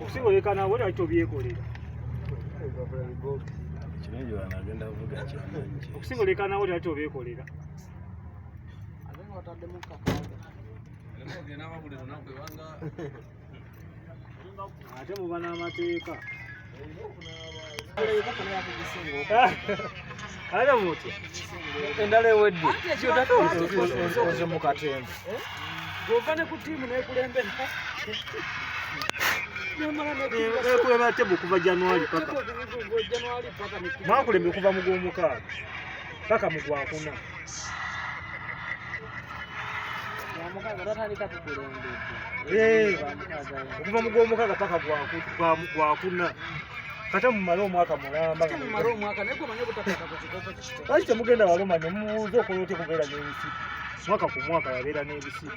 okusibolekana wera kyo byekolera okusibolekana wera kyo byekolera ate muba n'amateeka ale muti endala ewedde oze mu katembe gova ne ku tiimu nekulembera ekulema tebo okuva januari paka mwakulembe okuva mu gwomukaaga paka mu gwakuna Eh, okuva mu gwomukaaga paka gwakuna kata mumale omwaka mulambalwaki temugenda baloma nemubuuza okola otya kubeera n'ebisibu mwaka ku mwaka yabeera n'ebisibu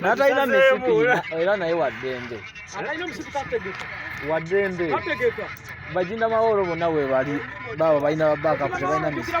natalina misipi era naye waddembe waddembe bajinda maworo bonna webali baabo balina babakapu tebalina misipi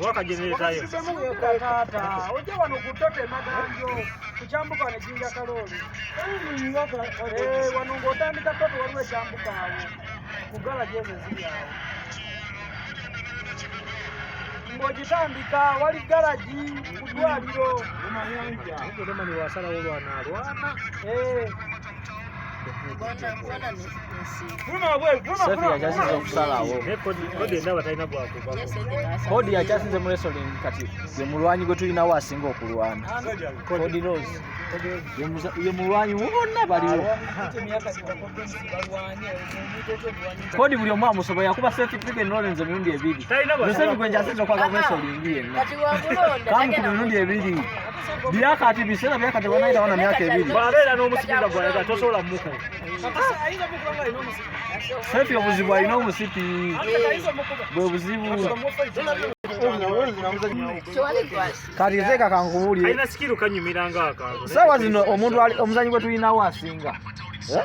wakajenerezayo ojja wano ku ttota emaganjo ku kyambuka wano ejinja kalooli wano ng'otandika ttota waliwo ekyambuka awo ku gala gyezo eziri awo ng'ogitandika wali galagi ku ddwaliro wasalawo lwanalwana kodi yakyasinze mu wrestling kati ye mulwanyi gwe tulinawo asinga okulwana kodi rose ye mulwanyi wonna baliwo Kodi buli omu amusobola yakuba Celtic League and Lawrence emirundi ebiri. Joseph Gwenja asinze okwaga Wesley Ngiye. Kamu ku mirundi ebiri. Byaka ati bisera byaka te banaita wana myaka ebiri. Babeera n'omusikira gwa yaga tosobola muko. Sefi obuzibu alina omusipi. Bwe buzibu. Kati nze kakankubuulire. Alina sikiru kanyumira ng'aka. Sawa zino omuntu omuzanyi gwe tulinawo asinga. Eh?